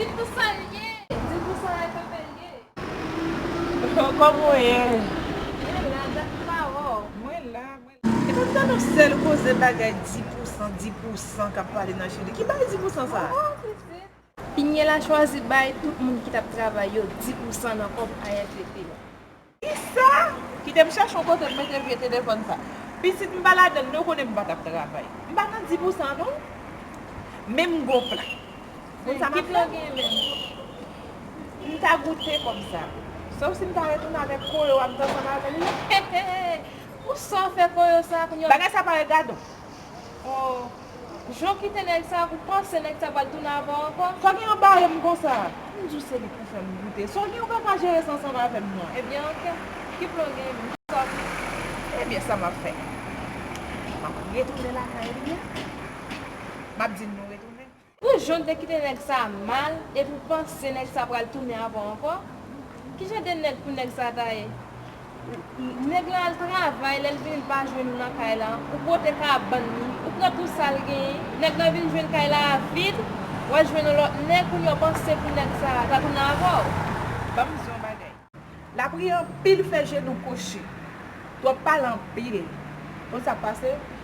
Di pou sa l ye. Di pou sa e pa bèl ye. Kòman w ye? Mwen la, dat m pa wè w. Mwen la, mwen la. E pa m tande yon sèl koze bagay di pou san, di pou san k ap pale nan Chili. Ki bagay di pou san sa? Waww Fritfrit! Piniella chwazi bay tout moun ki t ap travay yo di pou san nan kòb AFP yo. Kisa? Kite m chèche yon kote m mete vye telefòn sa. Pitit m pa ladan li, ou konnen m pa t ap travay. M pa nan di pou sa non. Men m gen yon plan. Ou konn sa m ap fè? Ki plan w genyen menm? M ta goute kòb sa. Sof si m ta retounen avèk koyo a m te ansanm avè l la. Hehe! Pou sa w fè koyo sa a kounya? Bagay sa parèt gadon. O! Jan w kite nèg sa, ou panse nèg sa pral tounen avè w ankò? Sa gen yon bare m konsa? M di w se li k pou fè m goute. Sa w gen ou pa ka jere sa ansanm avè m non. Ebyen ok. Ki plan w gen menm? Sa w vle? Ebyen sa m ap fè? M ap retounen lakay li a. M ap di l nou retounen. Pou jan w te kite nèg sa mal, epi w panse nèg sa pral tounen avè w ankò? Ki jan de nèg pou nèg sa ta ye? Nèg lan al travay lèl vini li pa jwenn ou nan kay lan, ou pote kabann li, ou pran tou sal genyen, nèg lan vin jwenn kay la a vid, wal jwenn yon lòt nèg kounye a ou panse pou nèg sa a ta tounen avèw? Banm di yon bagay. Lapri anpil fè jenou kwochi. Twòp pale anpil. Konn sak pase?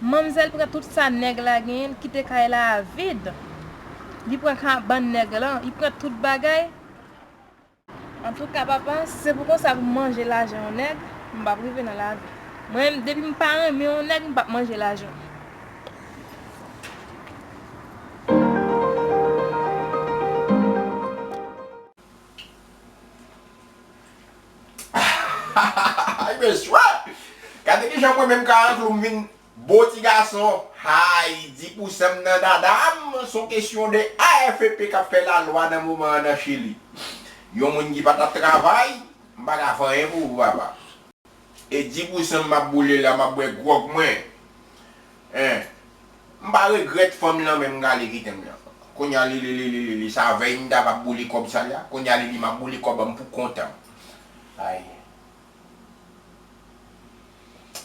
Manmzèl pran tout sa nèg la genyen l kite kay la a vid li pran kabann nèg lan li pran tout bagay antouka papa si se pou konsa pou m manje lajan yon nèg m pap rive nan lavi mwen menm depi m pa renmen yon nèg m pap manje lajan l. Hay mesye! Gade kijan mwen menm Karankloum m vin bo ti gason. Hay! Di pou sè m nan dada m, s on kesyon de AFP k ap fè lalwa nan moman an nan Chili. Yon moun ki pa t ap travay, m pa ka fè anyen pou ou papa. E di pou sè m m ap boule la, m ap bwè gwòg mwen. Hein! M pa regret fanm lan menm gale kitem lan kounya lililililili sa vèy m ta va boule kob sal ya kounya lili map boule kob banm pou kontan ay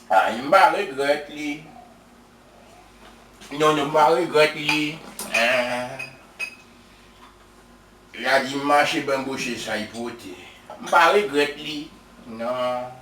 ay m pa regret li non non m pa regret li eehh ya di m mache ben bouche say pote m pa regret li nan.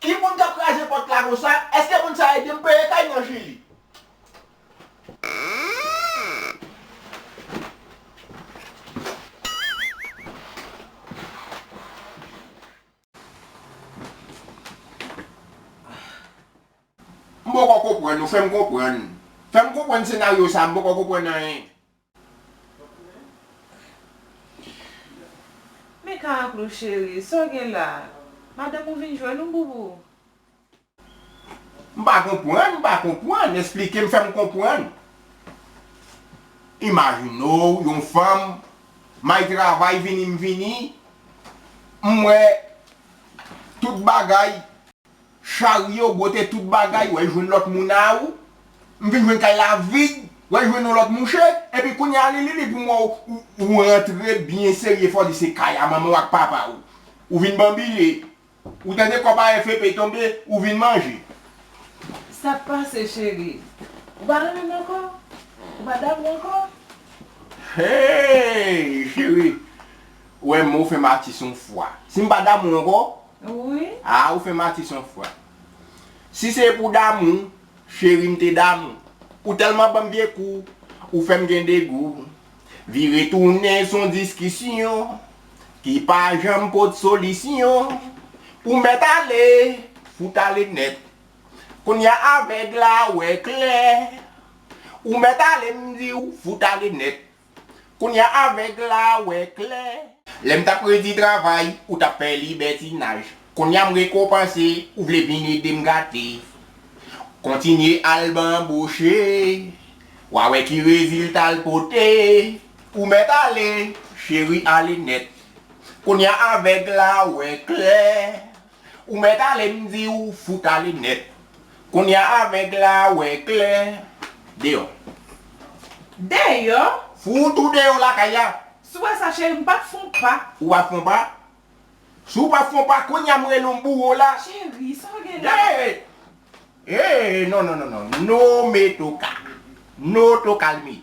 Ki moun kap kraze pòt la konsa eske moun sa edem peye kay nan chili. M poko konprann ou fèm konprann. Fèm konprann senaryo sa m poko konprann anyen. Men Karaklou cheri, sa w gen la? Madanm ou vin jwenn ou Boubou? M pa konprann, m pa konprann, esplike m fè m konprann. Imajine w yon fanm, may travay vini m vini, m wè tout bagay. Charye ou bwote tout bagay, wè jwenn lòt moun a ou, m vin jwenn kay la vid, wè jwenn yon lòt mouche, epi kounye a li li li pou mwen ou rantre byen serye fè w di se kay a manman w ak papa w, ou vin banbile, ou tande kòb a FEP tonbe, ou vin manje. Sa k pase cheri? Ou pa renmen m ankò? Ou pa damou ankò? Hey cheri, wè m ou fè m atis yon fwa. Si m pa damou w ankò, Wi. Ah ou fèm atis on fwa. Si se pou damou, cheri m te damou Ou tèlman banm vye kou, ou fèm gen degou Vire tounen son diskisyon ki pa janm pot solisyon Ou mèt ale, fout ale nèt Kounya avèg la wè klè Ou mèt ale m di w, fout ale nèt. Kounya avèg la wè klè. Lè m t ap redi travay, ou t ap fè libètinaj. Kounya m rekonpanse, ou vle vin ede m gate. Kontinye al banboche, w a wè ki rezilta l pote. Ou mèt ale, cheri ale nèt. Kounya avèg la wè klè. Ou mèt ale m di w fout ale nèt Konnya avèg la wè klè Deyò Deyò Fout ou deyò lakay la Si w wè sa cheri m pap fon pa Ou pap fon pa Si w pap fon pa Konnya m rele w m boure w la Cheri sa w gen la Deyò Eee non non non non No me toca No toca l mi.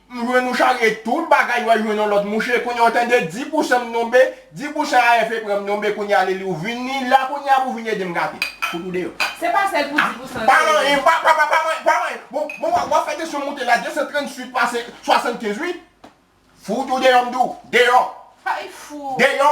M jwenn ou charye tout bagay wè jwenn yon lòt mouche kounya ou tande di pousan m tonbe di pousan AFP pranm tonbe kounya leli ou vini la kounya pou vini edem gate fout ou deyò. Se pa sèl pou di pousan pa manyen pa pa pa manyen pa manyen bon bon wap fè tansyon moute la 238 pase 75 wi fout ou deyò m di w deyò Hay fou deyò